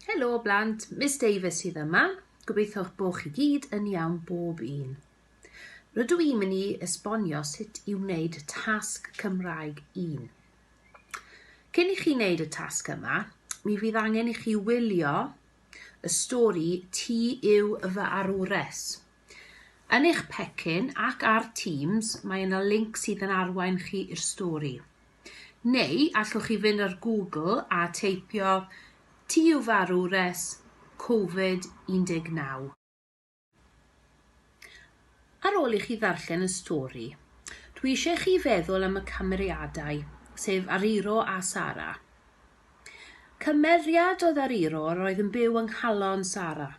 Helo blant, Miss Davies sydd yma. Gobeitho'ch bod chi gyd yn iawn bob un. Rydw i'n mynd i esbonio sut i wneud tasg Cymraeg 1. Cyn i chi wneud y tasg yma, mi fydd angen i chi wylio y stori Ti yw fy arwres. Yn eich pecyn ac ar Teams mae yna linc sydd yn arwain chi i'r stori. Neu allwch chi fynd ar Google a teipio Ti yw farw res Covid 19. Ar ôl i chi ddarllen y stori, dwi eisiau chi feddwl am y cymeriadau, sef Ariro a Sara. Cymeriad oedd Ariro yr oedd yn byw yng nghalon Sara.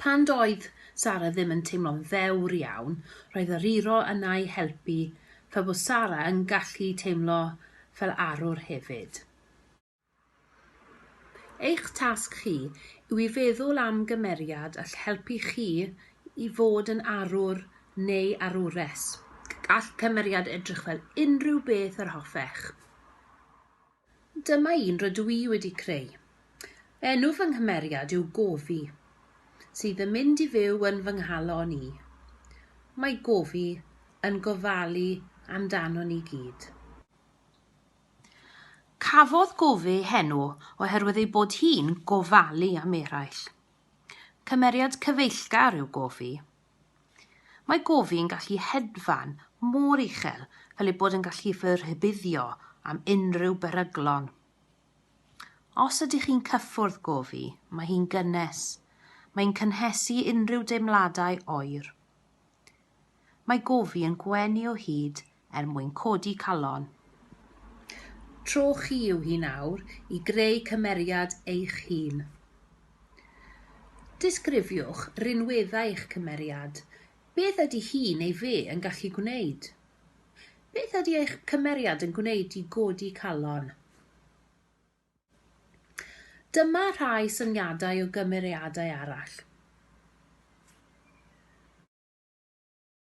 Pan doedd Sara ddim yn teimlo'n ddewr iawn, roedd yr iro yna'i helpu fel bod Sara yn gallu teimlo fel arwr hefyd. Eich tasg chi yw i feddwl am gymeriad all helpu chi i fod yn arwr neu arwres. Gall cymeriad edrych fel unrhyw beth yr hoffech. Dyma un rydw i wedi creu. Enw fy nghymeriad yw Gofi, sydd yn mynd i fyw yn fy nghalon i. Mae Gofi yn gofalu amdano ni gyd. Cafodd Gofi ei henw oherwydd ei bod hi'n gofalu am eraill. Cymeriad cyfeillgar yw Gofi, Mae gofi yn gallu hedfan mor uchel fel ei bod yn gallu fy rhybuddio am unrhyw beryglon. Os ydych chi'n cyffwrdd gofi, mae hi'n gynnes. Mae'n cynhesu unrhyw deimladau oer. Mae gofi yn gwenu o hyd er mwyn codi calon. Tro chi yw hi nawr i greu cymeriad eich hun. Disgrifiwch rinweddau eich cymeriad. Beth ydy hi neu fe yn gallu gwneud? Beth ydy eich cymeriad yn gwneud i godi calon? Dyma rhai syniadau o gymeriadau arall.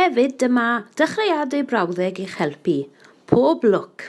Hefyd dyma dechreuadau brawddeg i'ch helpu. Pob lwc!